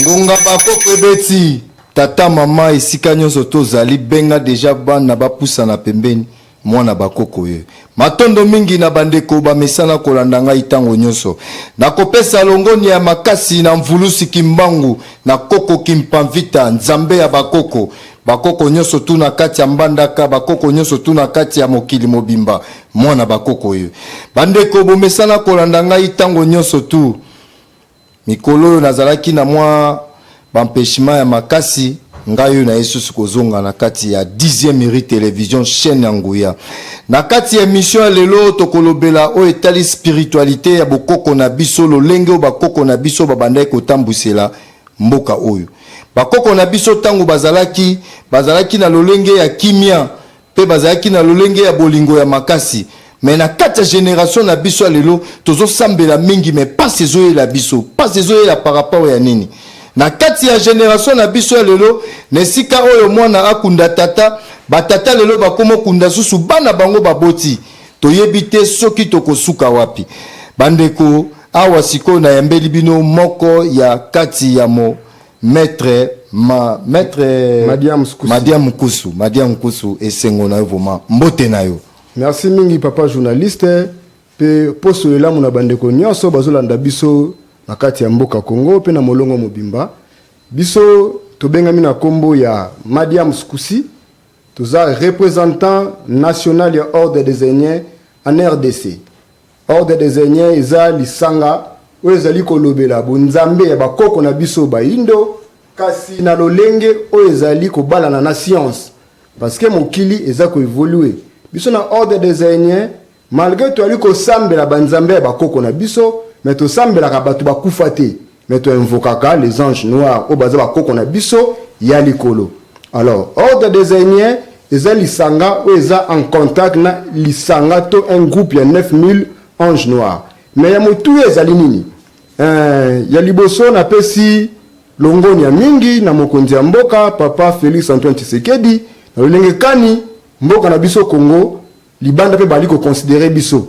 ngonga bakoko ebeti tata mama esika nyonso tozali benga deja bana bapusana pembeni mwana bakoko ye matondo mingi na bandeko bamesana kolanda ngai ntango nyonso nakopesa longonia ya makasi na mvulusi kimbangu na koko kimpamvita nzambe ya bakoko bakoko nyonso tu na kati ya mbandaka bakoko nyonso tu na kati ya mokili mobimba Mwana bakoko oyo. Bandeko, bomesana kolanda ngai ntango nyonso tu. Mikolo oyo nazalaki na mwa bampeshima ya makasi, ngai oyo naye susu kozonga na kati ya dixième iri television chaîne ya nguya. Na kati ya emission ya lelo, tokolobela oyo etali spiritualite ya bokoko na biso, lolenge oyo bakoko na biso babandaki kotambwisela mboka oyo. Bakoko na biso ntango bazalaki, bazalaki na lolenge ya kimia, pe bazalaki na lolenge ya bolingo ya makasi mais na kati ya generation na biso ya lelo tozo sambela mingi mais pasi ezo yela biso pasi ezo yela par rapport ya nini na kati ya generation na biso ya lelo na esika oyo mwana akunda tata ba tata lelo bakomo kunda susu bana bango baboti toyebi te soki tokosuka wapi bandeko awa sikoyo nayambeli bino moko ya kati ya mo Maitre ma maitre Madia Mkusu. Madia Mkusu, Madia Mkusu esengo na yo vraiment. Mbote na yo. Merci mingi papa journaliste pe poso elamu na bandeko nyonso bazolanda biso na kati ya mboka Congo pe na molongo mobimba. Biso tobengami na kombo ya Madia Mskusi toza representant national ya ordre des Ainiens en RDC. Ordre des Aigneens eza lisanga oyo ezali kolobela bonzambe ya bakoko na biso bayindo kasi na lolenge oyo ezali kobalana na science parce que mokili eza ko evolue. Biso na Ordre des Aigneens malgre toyali kosambela banzambe ya bakoko na biso mais tosambelaka bato bakufa te. mais to invokaka les anges noirs oyo baza bakoko na biso ya likolo alors ordre des ainiens eza lisanga oyo eza en contact na lisanga to un groupe ya 9000 ange noir mais ya motuya ezali nini eh, ya liboso napesi longonia mingi na mokonzi ya mboka papa felix antoine tshisekedi na lolenge kani mboka na biso congo libanda mpe bali koconsidere biso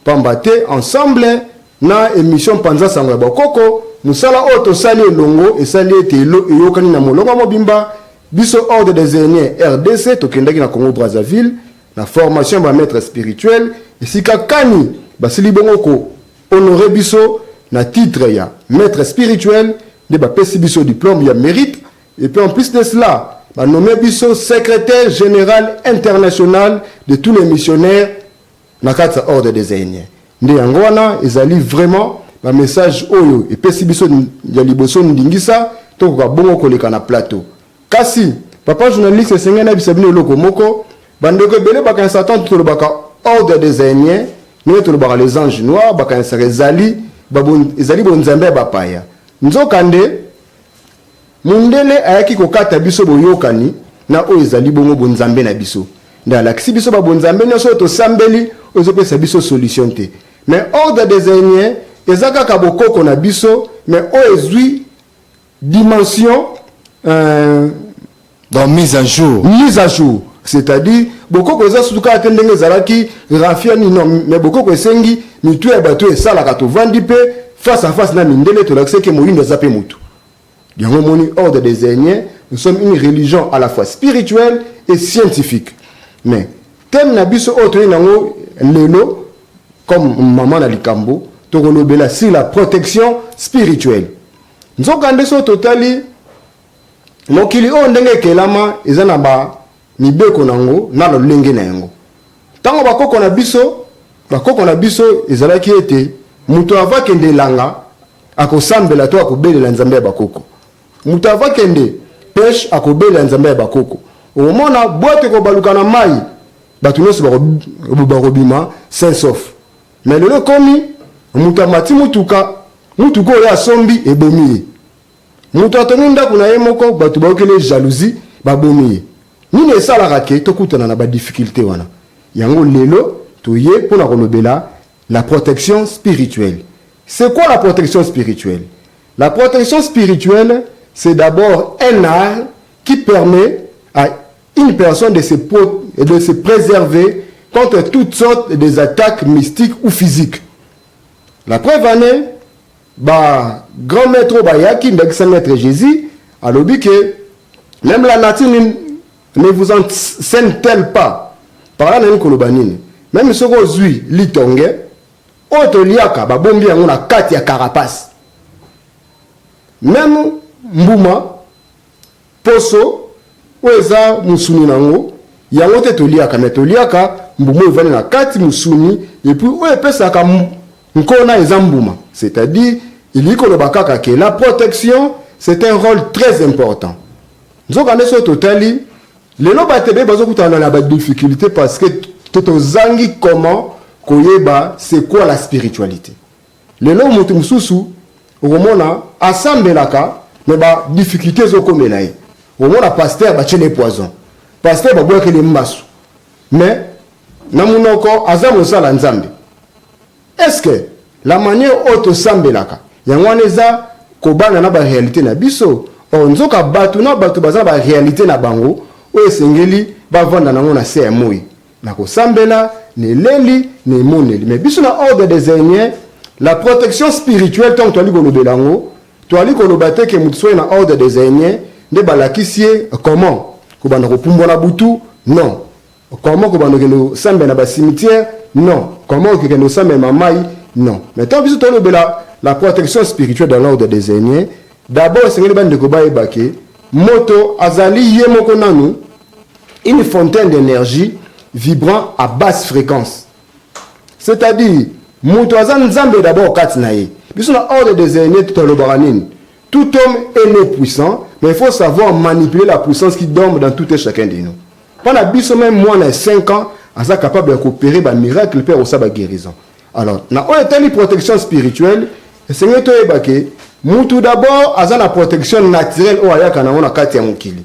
Pamba te ensemble na emission Panza Sango ya Bokoko, mosala oyo tosali elongo esali ete elo eyokani na molongo mobimba. Biso Ordre des Aines rdc tokendaki na Congo-Brazzaville na formation ya ba maitres spirituels, esika kani basili bongo ko honorer biso na titre ya maitre spirituel nde bapesi biso diplome ya merite et puis en plus de cela ba nommer biso secretaire general international de tous les missionnaires na kati ya Ordre des Ainiens. Nde yango wana ezali vraiment ba messages oyo epesi biso ya liboso ndingisa tokoka bongo koleka na plateau. Kasi papa journaliste esengeli nayebisa bino eloko moko, bandeko ebele bakanisaka tantu tolobaka Ordre des Ainiens ndenge tolobaka les Anges Noirs, bakanisaka ezali ezali bonzambe ya bapaya nzokande Mundele ayaki kokata biso boyokani na oyo ezali bongo bonzambe na biso. Nde alakisi biso ba bonzambe nionso oyo tosambeli oyo ezopesa biso solution te. Mais ordre des Ainiens eza kaka bokoko na biso mais oyo ezui dimension euh, Donc mise à jour. Mise à jour. C'est-à-dire bokoko eza sutu kaka te ndenge ezalaki rafia nini non mais bokoko esengi mitu ya bato esalaka tovandi mpe face à face na mindele tolakisa eke moyindo aza mpe motu yango omoni ordre des ainiens nous sommes une religion à la fois spirituelle et scientifique mais thème na biso oyo toyei nango lelo comme mama na likambo tokolobela si la protection spirituelle nzokande so totali Mokili oyo ndenge ekelama eza na ba mibeko na yango na lolenge na yango. Tango bakoko na biso bakoko na biso ezalaki ete moto ava kende elanga akosambela to akobelela nzambe ya bakoko, moto ava kende peche akobelela nzambe ya bakoko. Omona bwato ekobaluka na mayi bato nyonso bako bakobima sain sauf. Mais lelo ekomi moto amati motuka motuka oyo asombi ebomi ye. Moto atongi ndako na ye moko, bato bayokeli ye jalousie, babomi ye. Nini esalaka ke tokutana na ba difficultes wana? Yango lelo toye mpo na kolobela la protection spirituelle. C'est quoi la protection spirituelle? La protection spirituelle, c'est d'abord un art qui permet à une personne de se, de se préserver contre toutes sortes des attaques mystiques ou physiques. La preuve en est, Ba grand maitre oyo bayaki ndakisa maitre Jesus alobi que meme la nature ne, ne vous enseigne tel pas par là nalingi koloba nini meme soki ozwi litonge oyo toliaka babombi yango na kati ya carapace meme mbuma Poso oyo eza musuni na ngo yango te toliaka mais toliaka mbuma oyo evandi na kati musuni et puis oyo epesaka nkona eza mbuma c'est à dire elingi koloba kaka ke la protection c'est un role très important nzoka nde soki totali lelo bato ebele bazokutana na ba difficulté parce que tozangi comment koyeba c'est quoi la spiritualité Lelo mutu mususu okomona asambelaka mais ba difficultes ezokomela ye, okomona pasteur batieli ye poison, pasteur babwakeli ye mbasu mais na munoko aza mosala Nzambe. Est ce que la maniere oyo tosambelaka yango wana eza kobana na ba realite na biso? Or nzoka batu na batu baza na ba realite na bango oyo esengeli bavanda na yango na se ya moyi. Na kosambela, na eleli, na emoneli. Mais biso na Ordre des Ainiens, la protection spirituelle tango toali kolobela yango, toali koloba te ke moto soki aye na Ordre des Ainiens nde balakisi ye comment kobanda kopumbwa na butu, non. Comment kobanda kokende kosambela na ba cimetières, non. Comment okokende kosambela na mayi, non. Mais tango biso toali kolobela la protection spirituelle dans l'Ordre des Ainiens, d'abord esengeli bandeko bayeba ke moto azali ye moko nanu, une fontaine d'energie vibrant à basse fréquence c'est-à-dire moto aza nzambe d'abord kati na ye biso na ordre des aînés totalobaka nini tout homme est né puissant mais il faut savoir manipuler la puissance qui dorme dans tout et chacun de nous mpo na biso meme mwana ya 5 ans aza capable ya kopere bamiracle mpe akosala baguérison alors na oyo etali protection spirituelle esengeli toyeba ke mutu d'abord aza na protection naturelle oyo ayaka nango na kati ya mokili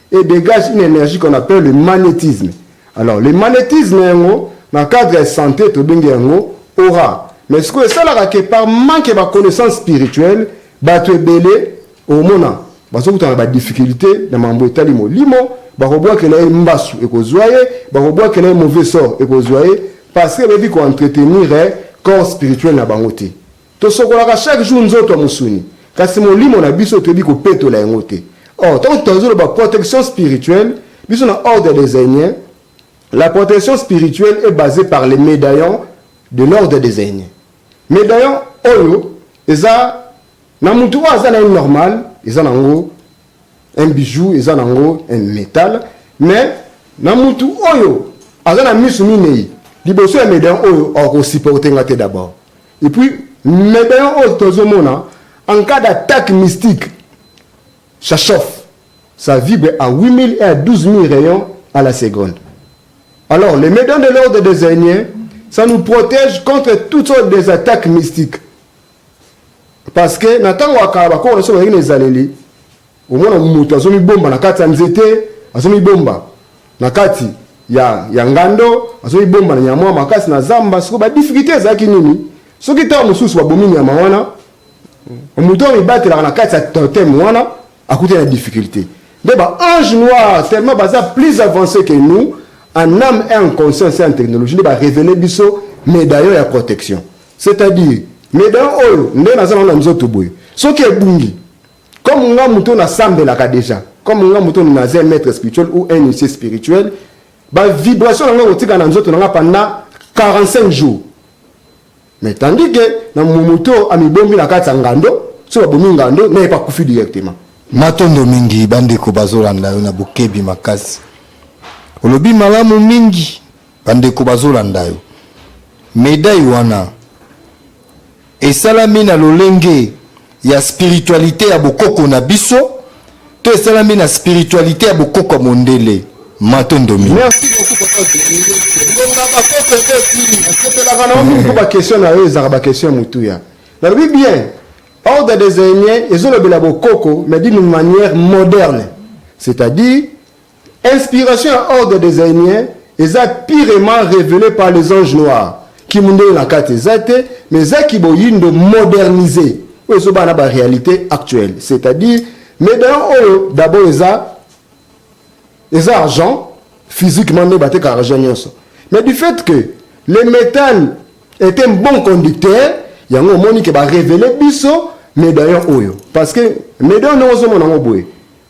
et degage une energie qu'on appelle le magnetisme alors le magnetisme yango na cadre ya sante tobengi yango aura mais sikoyo esalaka ke par manque ba connaissance spirituelle bato ebele omona bazokutana ba difficulté na mambo etali molimo bakobwakela ye mbasu ekozwa ye bakobwakela ye mauvais sort ekozwa ye parce que bayebi koentretenir eh, corps spirituel na bango te Tosokolaka chaque jour nzoto ya mosuni, kasi molimo na biso toyebi kopetola yango te. Or, tango moto azoloba protection spirituelle, biso na Ordre des Ainiens, la protection spirituelle est basee par les medaillons de l'Ordre des Ainiens. Medaillon oyo eza na mutu oyo aza na ye normal, eza na yango un bijou eza nango un metal mais na mutu oyo aza na misu minei liboso ya medaillon oyo akosupporte nga te d'abord et puis medaillon oyo tozomona en cas d'attaque mystique ça chauffe ça vibre à 8000 et à 12000 rayons à la seconde alors les medaillons de l'ordre des aignées ça nous protège contre toutes sortes des attaques mystiques Parce que na tango ya kala bakoko na biso bazalaki na ezaleli, omona moto azomibomba na kati ya nzete, azomibomba na kati ya, ya ngando, azomibomba na nyama makasi na zamba. Siko ba difficulté ezalaki nini? Soki ntango mosusu babomi nyama wana, moto oyo amibatelaka na kati ya totem wana, Akutani na difficulte nde ba ange noir tellement baza plus avance que nous en ame et en conscience et en technologie nde ba revele biso medaillon ya protection c'est à dire medaillon oyo nde naza nango na nzoto boye soki ebungi comme nga moto nasambelaka deja comme nga moto naza maître spirituel ou un initié spirituel ba vibration na nga kotika na nzoto na nga pendant 45 jours Mais tandis que na mumu to amibombi na kati ya ngando, soki babomi ngando na ye pe akufi directement. Matondo mingi bandeko bazolanda yo na bokebi makasi. Olobi malamu mingi bandeko bazolanda yo. Medaille wana esalami na lolenge ya spiritualite ya bokoko na biso to esalami na spiritualite ya bokoko ya mondele matondo mingi merci beaucoup papa longa bakoko ebeti nasepelaka na mingi mpo bakestion na yo ezalaka bakestion ya motuya nalobi bien ordre des aînés ezolobela bokoko mais d'une manière moderne c'est-à-dire Inspiration ya ordre des Ainiens eza pirement revelee par les anges noirs. Kimundele na kati eza te, mais eza kiboyindo modernise oyo ezobaa na ba realite actuelle, c'est-à-dire medaillon oyo d'abord eza eza argent physiquement nde bateka argent nyonso mais du fait que le métal est un bon conducteur yango omoni ke barevele biso medaillon oyo parce que medaillon ndenge ozomona yango boye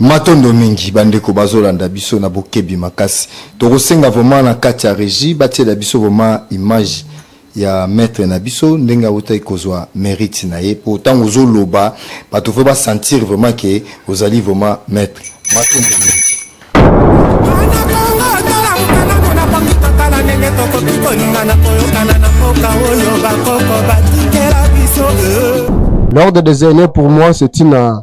Matondo mingi bandeko bazolanda biso na bokebi makasi tokosenga vraiment na kati ya regie batiela biso vraiment image ya maître na biso ndenge awutaki kozwa merite na ye mpo ntango ozoloba bato fo basentir vraiment ke ozali vraiment maître matondo mingi tokoki kolingana koyokana na mboka oyo bakoko batikela biso euh. l'ordre des aînés pour moi c'est une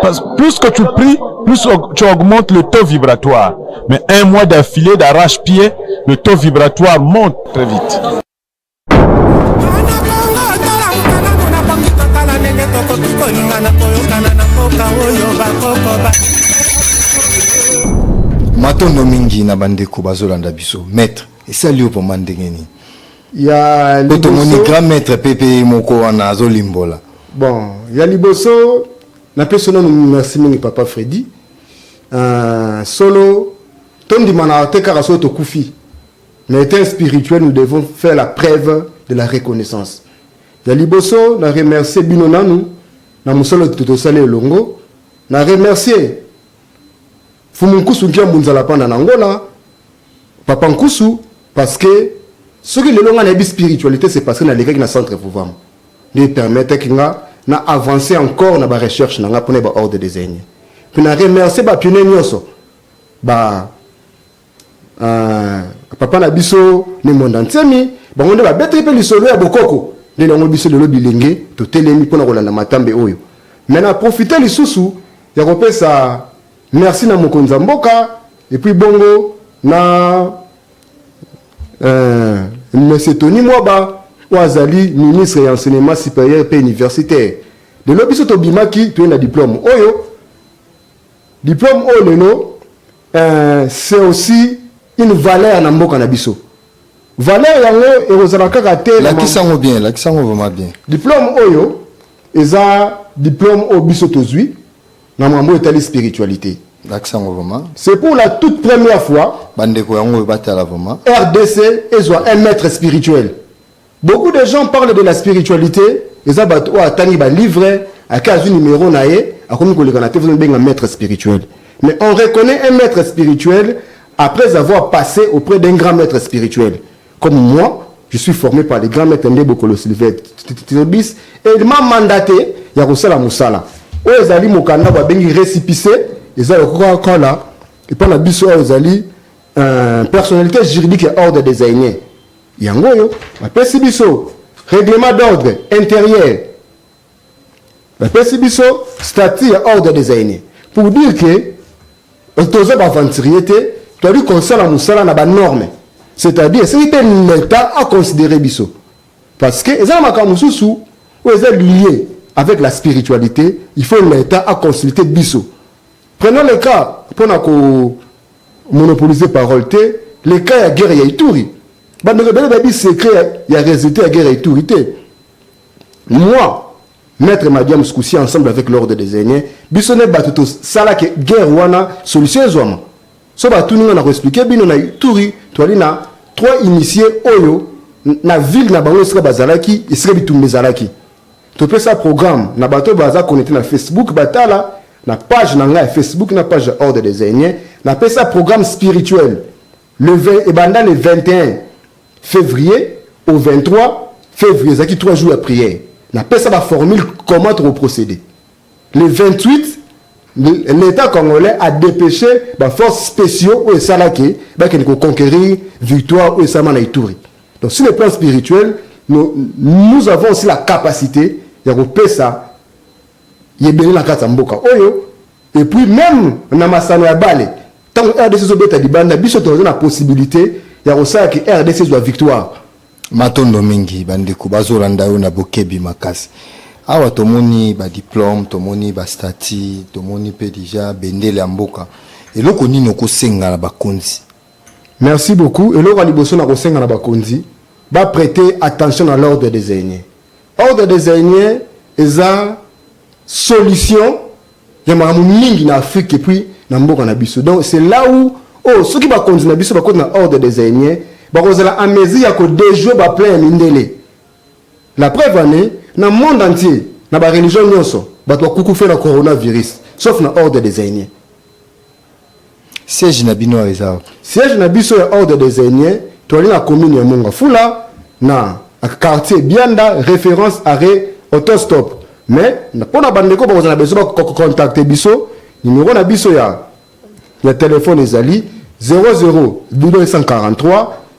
Parce que plus que tu pries, plus tu augmentes le taux vibratoire. Mais un mois d'affilée d'arrache-pied, le taux vibratoire monte très vite. matondo mingi na bandeko bazolanda biso maître esali yo mpoma ndenge nini ya liboso po tomoni grand maître pe pe moko wana azo limbola bon ya liboso na pesi nanu merci mingi papa Freddy uh, solo tondimanaka te kaka soki tokufi mais étant spirituel nous devons faire la preuve de la reconnaissance ya liboso na remercier bino nanu na mosala tosali elongo na remercier Mfumu Nkusu Nkiambu Nzalapanda na Angola, Papa Nkusu, parce que soki lelo nga nayebi spiritualité c'est parce que nalekaki na centre Vuvam nde permettre nga na avancer encore na ba recherche na nga pona ba ordre des aînés puis na remercier ba pionniers nyonso ba euh, papa na biso ne monda nsemi bango nde babetaki mpe lisolo ya bokoko nde yango biso lelo bilenge totelemi mpona kolanda matambe oyo me na profite lisusu ya kopesa Merci na mokonzi ya mboka et puis bongo na euh, monsieur Tony Mwaba oyo azali ministre ya enseignement supérieur mpe universitaire lelo biso tobimaki toye na diplôme oyo diplôme oyo lelo euh, c'est aussi une valeur na mboka na biso valeur yango ekozala kaka te lakisa yango bien lakisa yango vraiment bien diplôme oyo eza diplôme oyo biso tozwi na mambo etali spiritualité lakisa ngo vraiment c'est pour la toute première fois bandeko yango oyo batala vraiment rdc ezwa un maître spirituel beaucoup de gens parlent de la spiritualité eza bato oyo atangi balivre ake azwi numero na ye akomi koleka na te benga maître spirituel mais on reconnaît un maître spirituel après avoir passé auprès d'un grand maître spirituel Comme moi je suis forme par le grand maitre Ndebo Kolo Silvestres et il m'a mandate ya kosala mosala oyo ezali mokanda babengi recipice eza lokola kala epa na biso oyo ezali euh, personnalité juridique ya ordre des aînés yango oyo bapesi biso règlement d'ordre intérieur bapesi biso statut ya ordre des aînés pour dire que toza baaventurier te toyali kosala mosala na banorme c'est-à-dire esili mpe leta aconsidere biso parce que eza na makambo mosusu oyo eza lie avec la spiritualité il faut leta aconsulte biso prenons le cas mpo na komonopolise parole te le cas ya guerre ya ituri bandeko ebele bayebi secret ya résultat ya guerre ya ituri te Moi, Maitre Madiam Scoussi ensemble avec l'ordre des Aînés, biso ne batu to sala ke guerre wana solution ezwama. So ba tuni nga na ko expliquer bino na Ituri toali na trois initiés oyo na ville na bango esika bazalaki esika bitumba ezalaki. Topesa programme na bato baza connecter na Facebook batala na page na nga ya Facebook na page ya ordre des Aînés napesa programme spirituel Le 20 ebanda le 21 fevrier au 23 fevrier ezalaki 3 jours ya prière na pesa ba formule comment toko procéder le 28 l'État congolais a dépêché ba forces spéciaux oyo esala ke bakende ko conquérir victoire oyo esalama na Ituri. Donc sur le plan spirituel, nous, nous avons aussi la capacité ya kopesa ebele na kati ya mboka oyo et puis meme na masano ya bale tango rdc ezo beta libanda biso toza na possibilite ya kosala ki rdc ezwa victoire Matondo mingi bandeko bazolanda yo na bokebi makasi. Awa tomoni ba diplome, tomoni ba stati, tomoni pe deja bendele ya mboka. Eloko nini okosenga na bakonzi? Merci beaucoup. Eloko ya liboso na kosenga na bakonzi ba prete attention na l'ordre des aînés. Ordre des ainiers eza solution ya makambo mingi na Afrique et puis na mboka na biso. Donc c'est là où oh soki bakonzi na biso bakoti na ordre des ainiers bakozala en mesure ya kodejouer ba plein ya mindele. La preuve en est na monde entier na ba religion nyonso bato bakukufe na coronavirus sauf na ordre des ainiers. Siège na bino awa eza wapi? Siège na biso ya Ordre des Ainiers toali na commune ya Monga Fula na quartier Bianda reference arret autostop mais pona ba ndeko bakozala besoin ba ko contacter biso numero na biso ya ya telephone ezali 00 243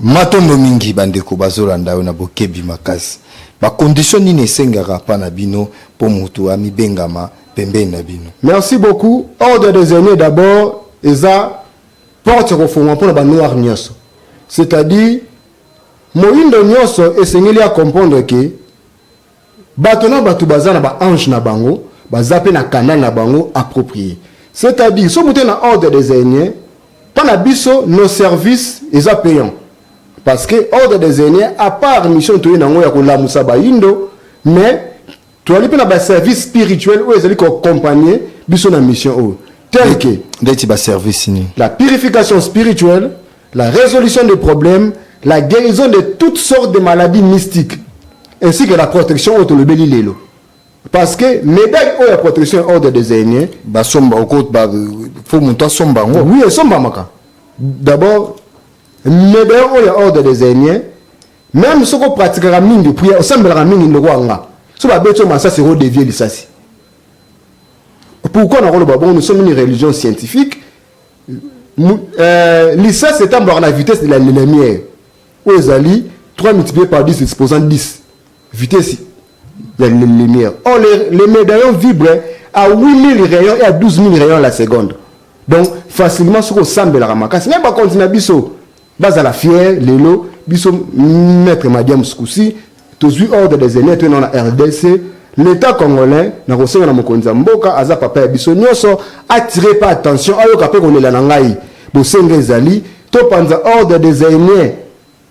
Matondo mingi bandeko bazolanda yo na bokebi makasi. Ba conditions nini esengaka epa na bino po mutu amibengama pembeni na bino? Merci beaucoup ordre des aines d'abord eza porte ya kofongwa pona ba noir nioso c'est à dire moyindo nioso esengeli a comprendre que Bato na bato baza na ba anges na bango, baza pe na canal na bango approprie. C'est à dire soki moto aye na ordre des aines, po na biso nos services eza payant. Parce que ordre des aines à part mission toye na yango ya ko lamusa bayindo, mais toali pe na ba services spirituels oyo ezali ko accompagner biso na mission oyo. Tel que. Ndeti ba services nini? La purification spirituelle, la resolution des problèmes, la guérison de toutes sortes de maladies mystiques, ainsi que la protection oyo tolobeli lelo parce que médaille oyo ya protection ya ordre des aînés basomba oko ba, fo moto asomba yango oui esombamaka d'abord médaille oyo ya ordre des aînés même soki opratikaka mingi prière osambelaka mingi ndoko ya nga so babeti yo masasi ekodevie lisasi pourquoi nakoloba bongo nous sommes une religion scientifique euh, lisasi etambolaka na vitesse de la lumière oyo ezali 3 multiplié par 10 exposant 10 vitesse ya lumière or le, le médaillon vibre à 8000 rayons et à 12 000 rayons à la seconde donc facilement soki osambelaka makasi me bakonzi na biso Bazala fier lelo biso maitre madiams kusi tozui ordre des aines to na rdc l'etat congolais na kosenga na mokonzi ya mboka aza papa ya biso nyoso atire pa attention ayoka pe kolela na ngai bosenga ezali topanza ordre des aines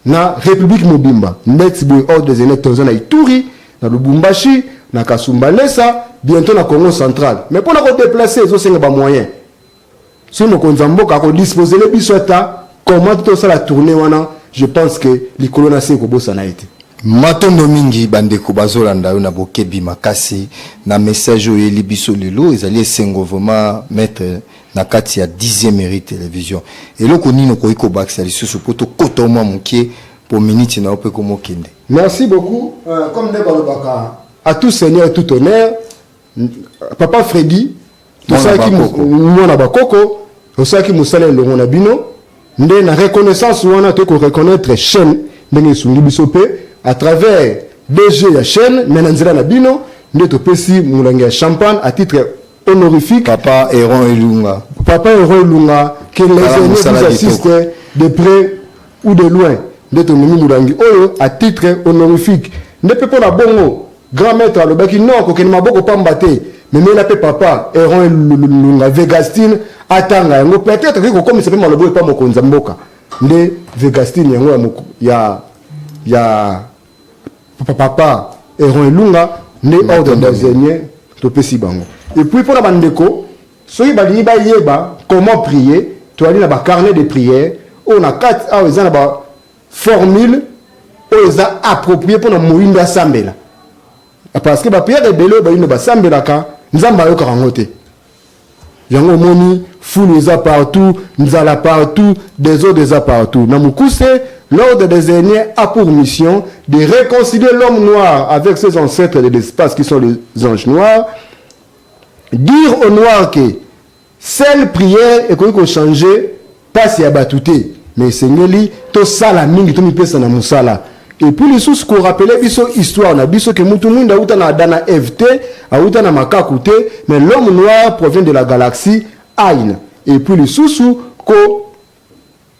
na republique mobimba ndeti boye ordre des aines toza na ituri na lubumbashi na kasumbalesa bientôt na congo central mais pona ko deplacer ezosenga ba moyen Soki mokonzi ya mboka ako disposele biso ata comment tosala tourne wana je pense que likolo na se ekobosana ye te. Matondo mingi bandeko bazolanda yo na bokebi makasi na message oyo oyeli biso lelo ezali esengo vraiment maitre na kati ya dixième mairie television eloko nini okoki kobakisa lisusu mpo tokota mwa moke mpo miniti na yo mpe komokende merci beaucoup euh, comme nde balobaka à tout seigneur tout honneur papa fredi tosalaki mwana bakoko osalaki mosala elongo na bino nde na reconnaissance wana toyei koreconnaitre chaîne ndenge esungi biso mpe à travers dg ya chaîne me na nzela na bino nde topesi molangi ya champagne à titre honorifique papa eron elunga papa eron elunga que les aînés vous assistent de près ou de loin nde tondomi mulangi oyo à titre honorifique nde pe pona bongo grand maitre alobaki non kokende maboko pamba te memela pe papa Eron Elunga Vegastine atanga yango peut etre akoki kokomisa pe maloba oyo epa mokonzi ya mboka nde Vegastine yango ya ya ya papa Eron Elunga nde ordre des aînés topesi bango et puis pona ba ndeko Soki balingi bayeba comment prier, toali na ba carnet de prière oyo na kati awa eza na ba formule oyo eza approprier mpo na moindo asambela, parce que ba prière ebele oyo baindo basambelaka Nzambe ayokaka yango te. Yango omoni fulu eza partout, nzala partout, desordre eza partout. Na mukuse, l'ordre des aînés a pour mission de réconcilier l'homme noir avec ses ancêtres de l'espace qui sont les anges noirs Dire au noir que seule prière ekoki ko changer pasi ya batu te mais esengeli tosala mingi tomipesa na musala et puis lisusu ko rappeler biso histoire na biso que mutu muinda awuta na Adam na Eve te awuta na makaku te mais l'homme noir provient de la galaxie Aina et puis lisusu ko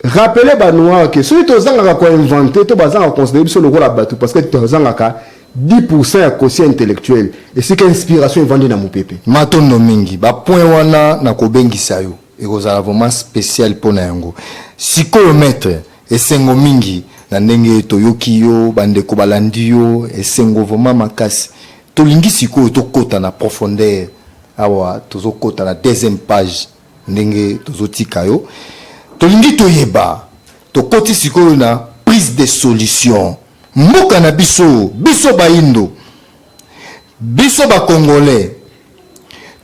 Rappeler ba noirs que soki tozangaka ko inventer to bazanga ko considere biso lokola batu parce que tozangaka 10 pourcent ya quotient intellectuel esika inspiration evandi na mupepe. Matondo mingi. Ba points wana nakobengisa yo, ekozala vraiment special mpo na yango. Sikoyo maitre, esengo mingi na ndenge toyoki yo, bandeko balandi yo, esengo vraiment makasi. Tolingi sikoyo tokota na profondeur, awa tozokota na deuxième page. ndenge tozo tika yo tolingi toyeba tokoti sikoyo na prise de solution mboka na biso biso bayindo biso ba congolais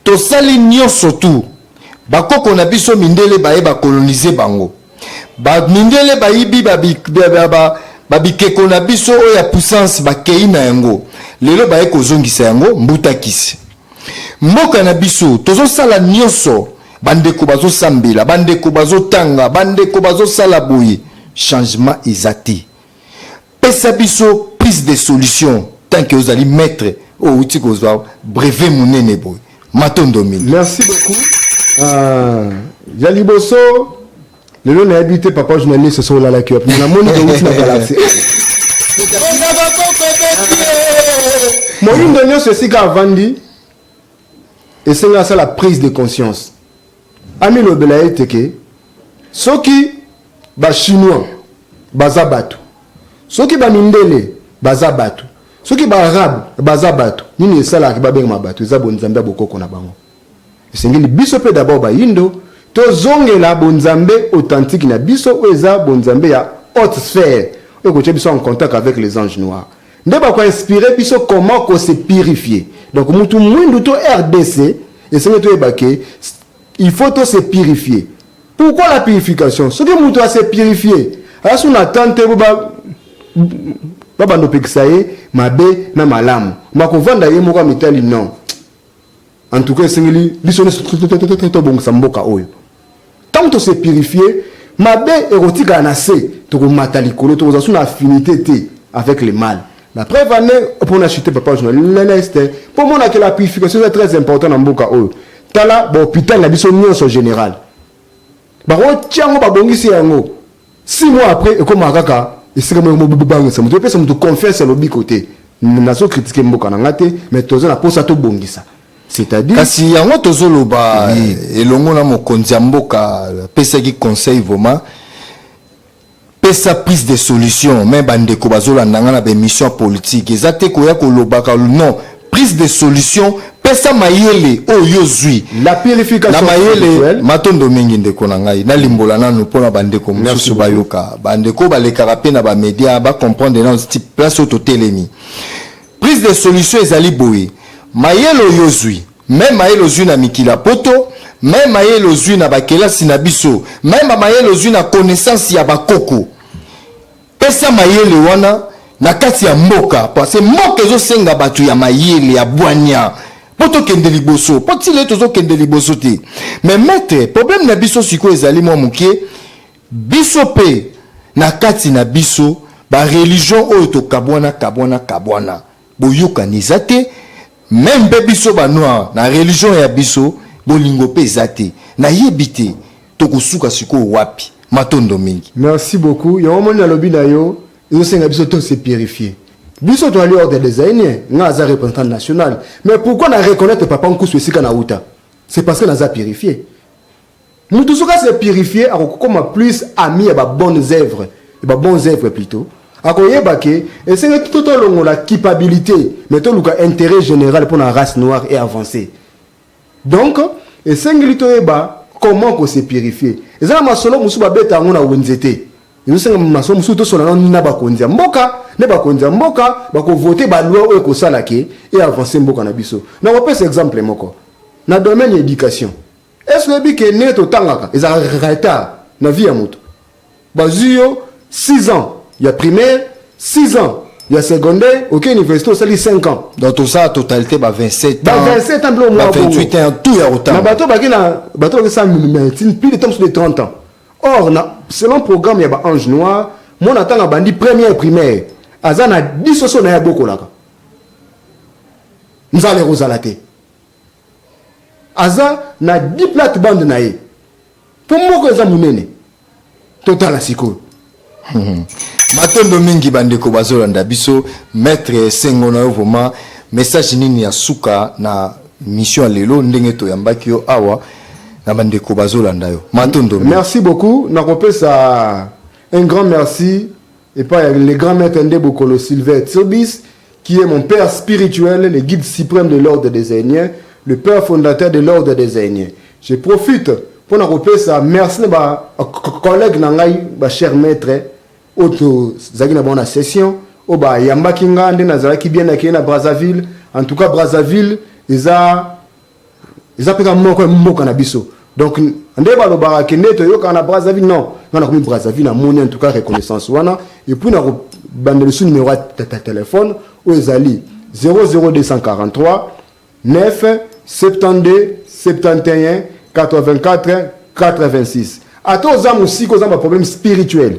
tosali nyonso tu bakoko na biso mindele baye ba colonise bango Ba mindele bayibi ba, ba, ba, ba, ba bikeko na biso oyo ya puissance bakei na yango lelo baye kozongisa yango mbutakisi mboka na biso tozosala nyonso bandeko bazosambela bandeko bazotanga bandeko bazosala boye changement eza te Pesa biso plus de solutions tant que ozali maitre oyo outi kozwa brevet munene boye. Matondo mingi. Merci beaucoup. Ah, ya liboso lelo nayebi te papa journaliste so olalaki wapi na moni outi na galaxie moyindo nyonso esika avandi esenga asala prise de conscience Amilobela ete ke soki ba chinois baza batu, soki ba mindele baza batu, soki ba arabe baza batu, nini esalaka ke babengama batu? Eza bonzambe ya bokoko na bango. Esengeli biso mpe d'abord bayindo tozongela bonzambe authentique na biso oyo eza bonzambe ya haute sphère oyo ekotya biso en contact avec les anges noirs. nde bako inspire biso comment ko se purifier donc mutu muindu to rdc esengeli toyeba ke il faut to se purifier pourquoi la purification soki mutu a se purifier aza sous na attente te ba babanda opekisa ye mabe na malamu makovanda ye moko amitali non En tout cas, esengeli biso nyonso tobongisa mboka oyo. Tant que se purifier, mabe ekotikala na se, tokomata likolo, tokozala sous na affinité te avec le mal. La preuve en est, pour na chuter papa journaliste, pour mona que la purification est très importante na mboka oyo. Tala ba hôpital na biso nyonso général. Ba otiango ba bongisi yango. Six mois après ekomaka kaka esika moko mo bobangisa moto epesa moto confiance ya lobiko te nazo critique mboka na nga te mais toza na posa tobongisa c'est-à-dire kasi yango tozoloba oui. elongo na mokonzi ya mboka apesaki conseil vraiment pesa prise de solution me bandeko bazolanda nga na baémission politique eza te koya kolobaka non prise de solution pesa mayele oyo yo ozwi La purification na mayele spirituelle. matondo mingi ndeko na ngai nalimbola nanu mpo na bandeko Merci mosusu beaucoup. bayoka bandeko balekaka mpe na bamedia bacomprendre nano ti place oyo totelemi prise de solution ezali boye mayele oyo ozwi meme mayele ozwi na mikili ya poto meme mayele ozwi na bakelasi na biso meme mayele ozwi na connaissance ya bakoko Pesa mayele wana na kati ya mboka parce que mboka ezosenga bato ya mayele ya bwanya mpo tokende liboso mpo tile tozokende liboso te mais maître problème na biso sikoyo ezali mwa moke biso mpe na kati na biso bareligion oyo tokabwana kabwana kabwana Boyokani eza te meme pe biso ba noir na religion ya biso bolingo pe eza te nayebi te tokosuka sikoyo wapi matondo mingi. Merci beaucoup yango omoni nalobi na yo ezo senga biso to se purifier biso toali hors de des hainiens nga aza representant national mais pourquoi na reconnaitre papa nkusu esika na wuta c'est parce que naza purifier Mutu soki a se purifier akokoma plus ami ya ba bonnes œuvres, ya ba bons œuvres plutot. Akoyeba que esengeli tout tolongola culpabilite mais toluka interet general pona race noire e avancer. Donc esengeli toyeba comment ko se purifier. Eza na masolo mosusu babeta yango na wenze te. Ezosenga masolo mosusu tosolola nanu na bakonzi ya mboka, nde bakonzi ya mboka bako voter ba lois oyo ekosala que e avancer mboka na biso. Nakopesa exemple moko, na domaine ya education. Est-ce que oyebi que ndenge totangaka ezalaka retard na vie ya moto? Bazwi yo 6 ans ya primaire, 6 ans ya secondaire, oke université osali 5 ans. Donc tosala totalite ba 27 Ba ans, 27 ans mpe omwa ba bongo. 28 ans tout ya Na kotanga. bato baki na bato baki sa medecine plus de temps de 30 ans. Or na selon programme ya ba ange noir, mwana atanga bandi première primaire, aza na 10 soso na ye abokolaka. Nzala ekozala te. aza na 10 plate bande na ye mpo moko eza monene totala sikoyo matondo mingi bandeko bazolanda biso maître esengo na yo vraimen message nini ya suka na mission ya lelo ndenge toyambaki yo awa na bandeko bazolanda yo matondo merci beaucoup nakopesa un grand merci epa ya le grand maitre nde bokolo Sylvain Tsirbis qui est mon père spirituel le guide supreme de l'ordre des Zaïniens le père fondateur de l'ordre des Zaïniens je profite pona kopesa merci na ba collègue na ngai ba cher maitre oyo tozalaki na bango na session oyo bayambaki nga nde nazalaki bien accueilli na Brazzaville en tout cas Brazzaville eza eza pe ka moko ya mboka na biso donc nde balobaka ke nde toyokaka na brazzaville non nga nakomi brazzaville namoni en tout cas reconnaissance wana epuis nakobanda lisu numero ya telefone oyo ezali 00243 9 72 71 84 86 ata oza mosika oza na baproblème spirituel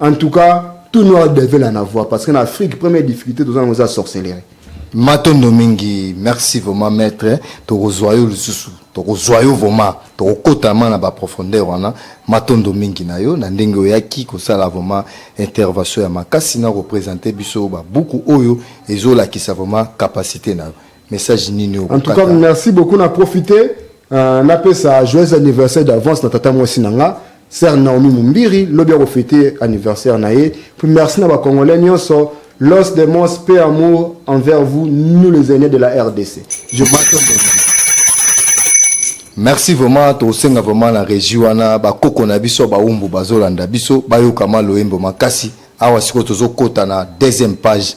En tout cas, tout noir devait la n'avoir parce que na Afrique première difficulté toza nango eza sorcellerie. Matondo mingi, merci vraiment maître, tokozwa yo lisusu, tokozwa yo vraiment, tokokota ma na ba profondeur wana. Matondo mingi na yo na ndenge oyaki kosala vraiment intervention ya makasi na ko presenter biso ba buku oyo ezolakisa vraiment capacité na yo. message nini oyo en tout cas merci beaucoup na profiter euh, napesa joyeux anniversaire d'avance na tata mwasi na nga sœur Naomi Mumbiri lobi akofete anniversaire na ye puis merci na ba congolais nyonso Los Demos, paix, amour envers vous, nous les aînés de la RDC. Je merci vraiment tosenga vraiment na régi wana bakoko na biso baumbu bazolanda biso bayokama loyembo makasi awa sikoyo tozokɔta na deuxième page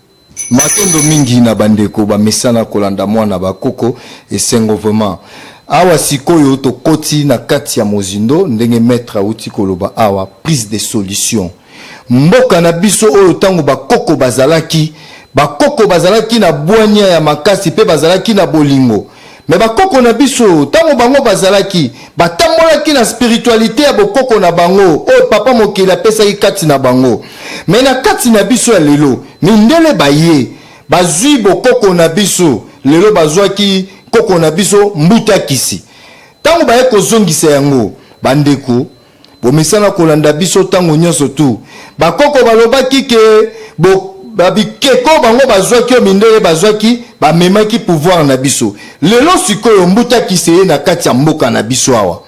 Matondo mingi na bandeko bamesana kolanda mwana ba koko esengo vraiment awa sikoyo tokoti na kati ya mozindo ndenge maitre awuti koloba awa prise de solution mboka na biso oyo tango ba koko bazalaki ba koko bazalaki na bwania ya makasi pe bazalaki na bolingo Mais bakoko na biso tango bango bazalaki batambolaki na spiritualite ya bokoko na bango oyo papa mokeli apesaki kati na bango. Mais na kati na biso ya lelo mindele baye bazui bokoko na biso lelo bazuaki koko na biso mbuta kisi tango baye kozongisa yango bandeko Bomesana kolanda biso tango nionso tout. Bakoko balobaki que bo ba bikeko bango bazwaki oyo mindele bazwaki bamemaki pouvoir na biso. Lelo sikoyo mbuta kisi eye na kati ya mboka na biso awa.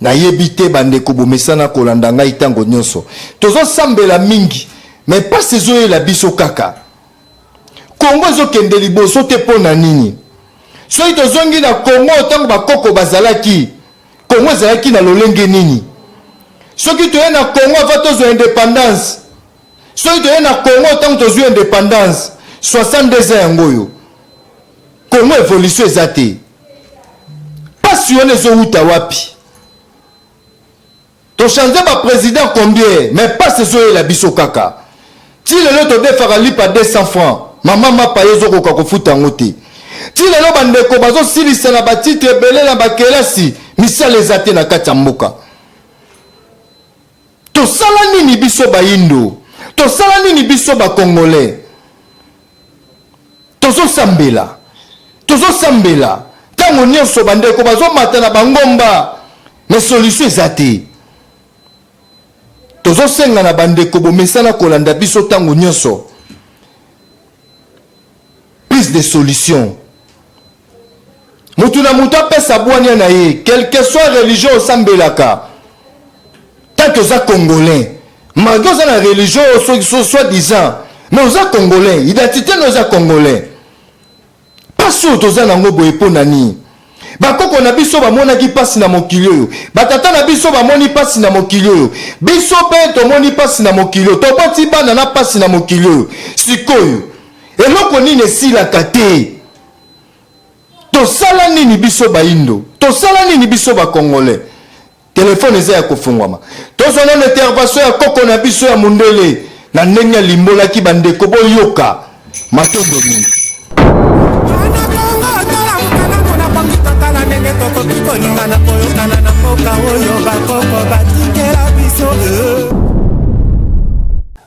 Nayebi te bandeko bomesana kolanda ngai tango nionso. Tozo sambela mingi mais pasi ezoyela biso kaka. Congo ezo kende liboso te pona nini? Soki tozongi na Congo tango bakoko bazalaki Congo ezalaki na lolenge nini? Soki toye na Congo avant tozwa independance, soki toye na Congo ntango tozwi independance 62 ans yango oyo Congo evolution eza te, pasi wana ezowuta wapi? To change ba president combien mais pasi ezoyela biso kaka ti lelo todefaka lipa 200 francs mama mapa yo ezokoka kofuta yango te ti lelo bandeko bazosilisa na batitre ebele na bakelasi misala eza te na kati ya mboka tosala nini biso bayindo tosala nini biso bakongolais Tozosambela, tozosambela ntango nyonso. Bandeko bazomata na bangomba, mais solution eza te. Tozosenga na bandeko bomesana kolanda biso ntango nyonso, plus de solution. moto na moto apesa bwania na ye quelque soit religion osambelaka tant oza congolais malgre oza na religion soit disant mais oza congolais identité no eza congolais mpasi oyo toza nango boye mpo na nini bakoko na biso bamonaki mpasi na mokili oyo batata na biso bamoni mpasi na mokili oyo biso mpe tomoni mpasi na mokili oyo toboti bana na mpasi na mokili oyo sikoyo eloko nini esilaka te tosala nini biso baindo tosala nini biso bacongolais telefone eza ya kofungwama tozwa nano intervention ya koko na biso ya mondele na ndenge alimbolaki bandeko boyoka matondo mingi tokoki kolingana koyokana na mboka oyo bakoko batikela biso eh.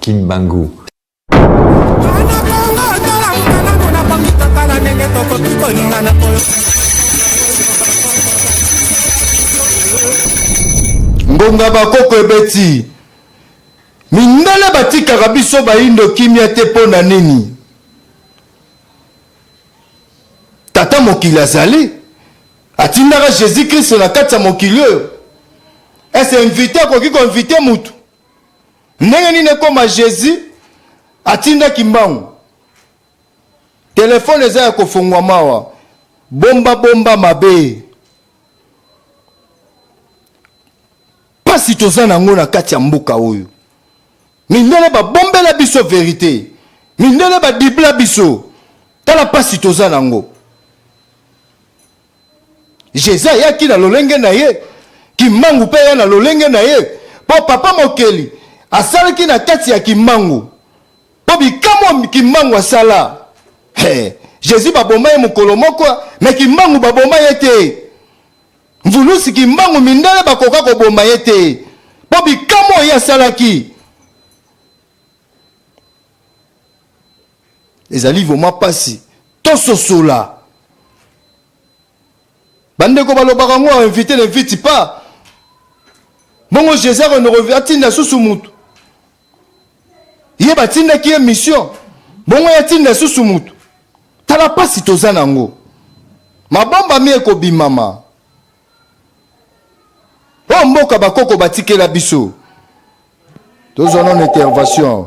Kimbangu. ngonga bakoko ebeti mindele batikaka biso bayindo kimia te mpo na nini tata mokili azali atindaka jésus kristo na kati ya mokili oyo ese invite akoki koinvite motu Ndenge nini ekoma Jesus atinda kimbangu? Telefone eza ya kofongwa mawa. Bomba bomba mabe. Pasi toza nango na kati ya mboka oyo. Mindele babombela biso verite. Mindele badibla biso. Tala pasi toza nango. Jezi ayaki na lolenge na ye, Kimbangu mpe aya na lolenge na ye, mpo Papa Mokeli asalaki na kati ya Kimbangu, mpo bikamwa Kimbangu asala hey. Jésus baboma ye mokolo moko me kimbangu baboma ye te mvulusi kimbangu mindele bakoka koboma ye te mpo bikamo oyo asalaki ezali vraiment mpasi tososola bandeko balobaka yango ainvite ne vite pas bongo jesus renorovi atinda susu motu ye batindaki ye mission bongo ye atinda susu motu tala mpasi toza na yango mabomba mi ekobimama oyo oh, mboka bakoko batikela biso tozwa nono intervention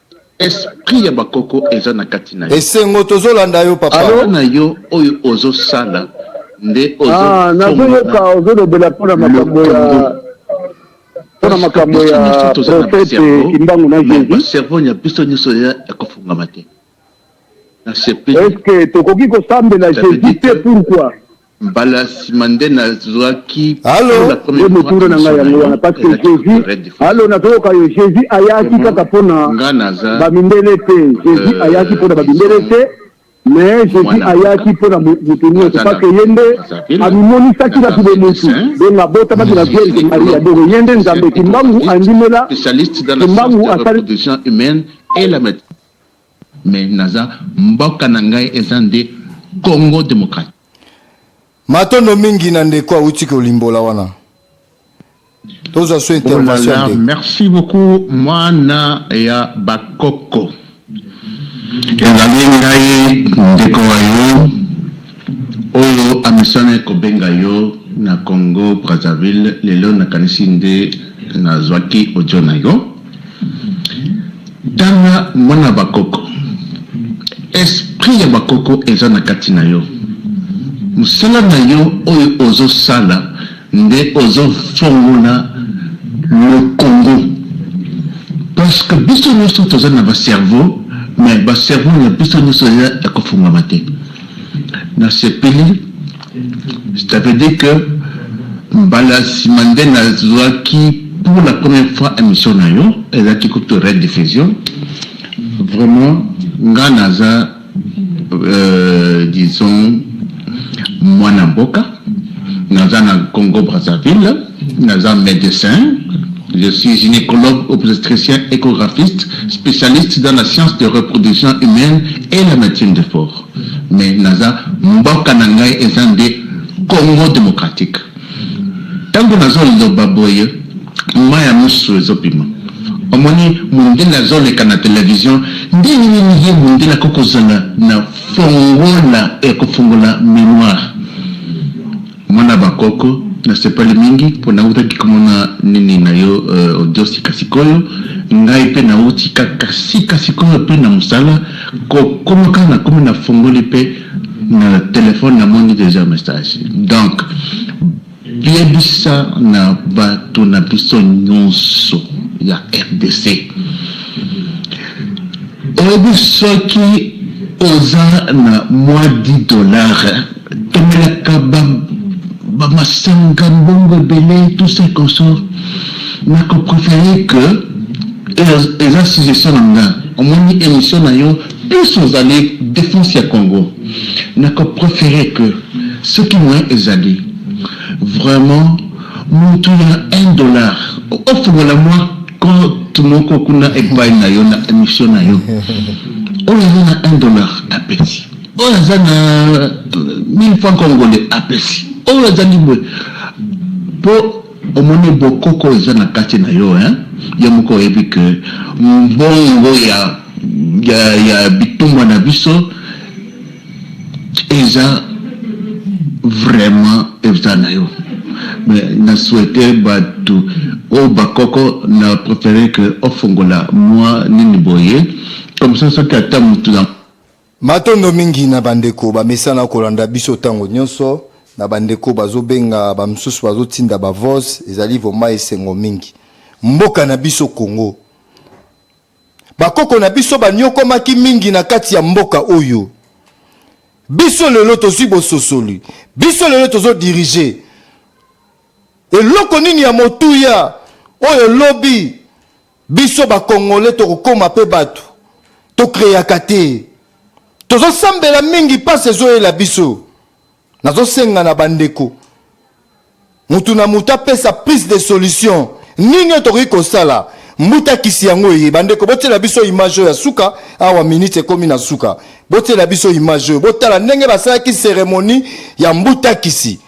Esprit ya ba koko eza na kati na yo. Esengo tozo landa yo papa. Allo na yo oyo ozo sala nde ozo ah, nazo yoka ozo lobela pona makambo ya pona makambo ya prophète Kimbangu na Jésus. Cerveau ya biso nyoso ya kofungama te. Est-ce que tokoki kosambela Jésus te pourquoi? Mbala ya sima nde nazwaki pour la première fois emission na yo, elakisi kutu Red Diffusion. Allo, nazoyoka yo, Jesus ayaki kaka mpo na ba mindele te, Jesus ayaki mpo na ba mindele te, mais Jesus ayaki mpo na mutu nionso, parce que ye nde amimonisaki na kibomutu, donc abotamaki na Vierge Maria, donc ye nde Nzambe, Kimbangu andimela Kimbangu asali. Mais naza mboka na ngai eza nde Congo democratique. Matondo mingi na ndeko awuti kolimbola wana. Tozwa so intervention ya ndeko. Merci beaucoup mwana ya ba koko. Ezali ngai ndeko wa yo Oyo amesana kobenga yo na Congo Brazzaville lelo nakanisi nde nazwaki audio na yo. Tala mwana ba koko esprit ya ba koko eza na kati na yo. Musala na yo oyo ozo sala nde ozo fongola le Congo parce que biso nioso toza na ba cerveau mais ba cerveau na biso nioso eza ya kofungwama te. Na sepeli ça veut dire que mbala ya sima nde nazuaki pour la première fois emission na yo ezalaki kutu rediffusion vraiment nga naza euh, disons mwana mboka naza na Congo Brazzaville Naza medecin, je suis gynecologue obstetricien echographiste, specialiste dans la science de reproduction humaine et la medecine de fort mais naza mboka na ngai eza nde Congo democratique. Tango nazo loba boye mayi ya misu ezo bima omoni mundele azo leka na television ndenge nini ye mundele akoki kozala na fongola ya kofongola memoire? Mwana ba koko na sepali mingi po na wutaki ko mona nini na yo audio sika sikoyo ngai pe na wuti kaka sika sikoyo pe na musala ko komoka na komi na fongoli pe na telephone na moni deja message donc yebisa na batu na biso nionso ya rdc oyebi soki oza na mua 10 dollars Tomelaka ba masanga, mbongo ebele, tout ça et consort. Nako preferer que, eza suggestion na nga, omoni emission na yo plus ozali defense ya Congo, nako preferer que soki moyen ezali vraiment mutu ya un dollar ofungola mua compte moko kuna epayi na yo na emission na yo, oyo aza na un dollar apesi. Oyo aza na 1000 francs congolais apesi oyo azangi boye po omoni bokoko eza na kati na yo hein yo moko oyebi que mbongo ya ya ya bitumba na biso eza vraiment eza na yo mais na souhaite batu oyo bakoko na prefere que ofongola mua nini boye comme ça soki ata mutu na Matondo mingi na bandeko bamesana kolanda biso ntango nyonso, na bandeko bazobenga, bamosusu bazotinda ba voz, ezali vrema esengo mingi. Mboka na biso Congo, bakoko na biso banyokwamaki mingi na kati ya mboka oyo. Biso lelo tozwi bososoli, biso lelo tozo diriger. Eloko nini ya motuya oyo lobi Biso ba congolais toko koma pe batu to creaka te tozo sambela mingi pasi ezoyela biso nazo senga na bandeko mutu na mutu apesa prise de solution nini oyo tokoki kosala mbuta kisi yango eye bandeko botiela biso image oyo ya suka awa minute ekomi na suka botiela biso image oyo botala ndenge basalaki ceremonie ya mbuta kisi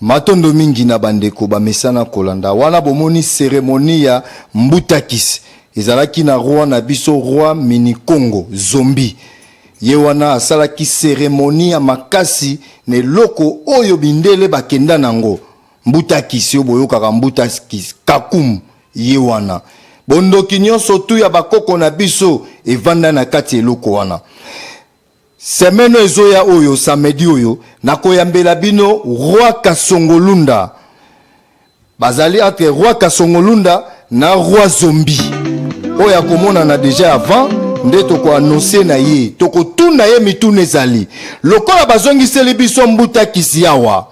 matondo mingi na bandeko bamesana kolanda wana bomoni seremoni ya mbutakis ezalaki na roi na biso roi minikongo zombi ye wana asalaki seremoni ya makasi na eloko oyo mindele bakenda nango Mbuta kisi oyo boyokaka mbuta kisi kakum ye wana bondoki nyonso tu ya bakoko na biso evanda na kati eloko wana semeno ezoya oyo samedi oyo nakoyambela bino roi kasongolunda bazali entre roi kasongolunda na roi zombi oyo akomonana deja avant nde tokoanonse na ye tokotuna ye mituna ezali lokola bazongiseli biso mbuta kisi awa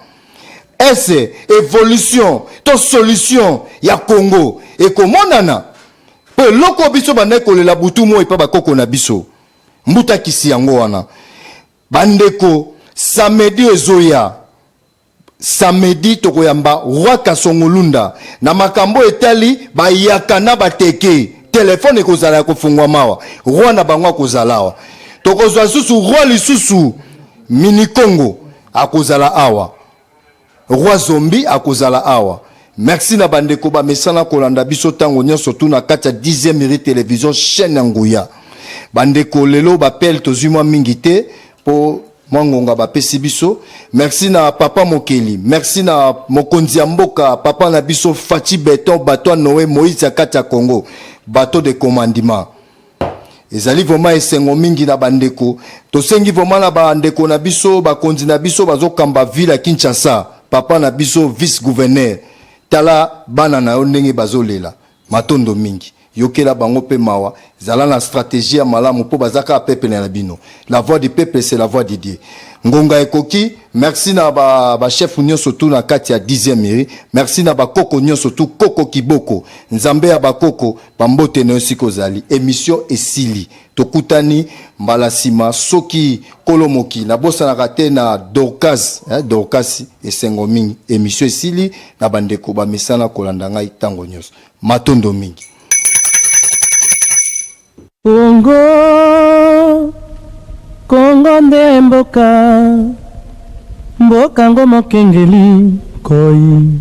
Est-ce evolution to solution ya Congo ekomonana? Mpo eloko biso bandaki kolela butu moi epa bakoko na biso mbuta kisi yango wana bandeko samedi ezoya samedi tokoyamba roi kasongolunda na makambo etali bayaka na bateke telefone ekozala ya kofungwa mawa roi na bango akozala awa tokozwa lisusu roi lisusu minikongo akozala awa roi zombi akozala awa merci na bandeko bamesana kolanda biso ntango nyonso tu na kati ya 10e miri television chaîne ya nguya bandeko lelo bapele tozwi mwa mingi te mpo mwa ngonga bapesi biso merci na papa mokeli merci na mokonzi ya mboka papa na biso faci beton bato ya noe moïse ya kati ya congo bateau de commandement ezali vraiment esengo mingi na bandeko tosengi vraiment na bandeko na biso bakonzi na biso bazokamba ville ya kinshasa papa na biso vice gouverneur tala bana na yo ndenge bazolela matondo mingi yokela bango mpe mawa zala na strategie ya malamu mpo baza kaka pepele na bino la voix du peuple c'est la voix de dieu ngonga ekoki merci na bachef ba nyonso tu na kati ya 10e iri merci na bakoko nyonso tu koko kiboko nzambe ya bakoko Ba mbote na yo esika ozali. Emission esili. Tokutani mbala sima soki kolo moki. Nabosanaka te na Dorcas, eh Dorcas esengo mingi. Emission esili na ba ndeko ba mesana kolanda ngai tango nionso. Matondo mingi. Congo Congo nde mboka Mboka ngo mokengeli nkoi.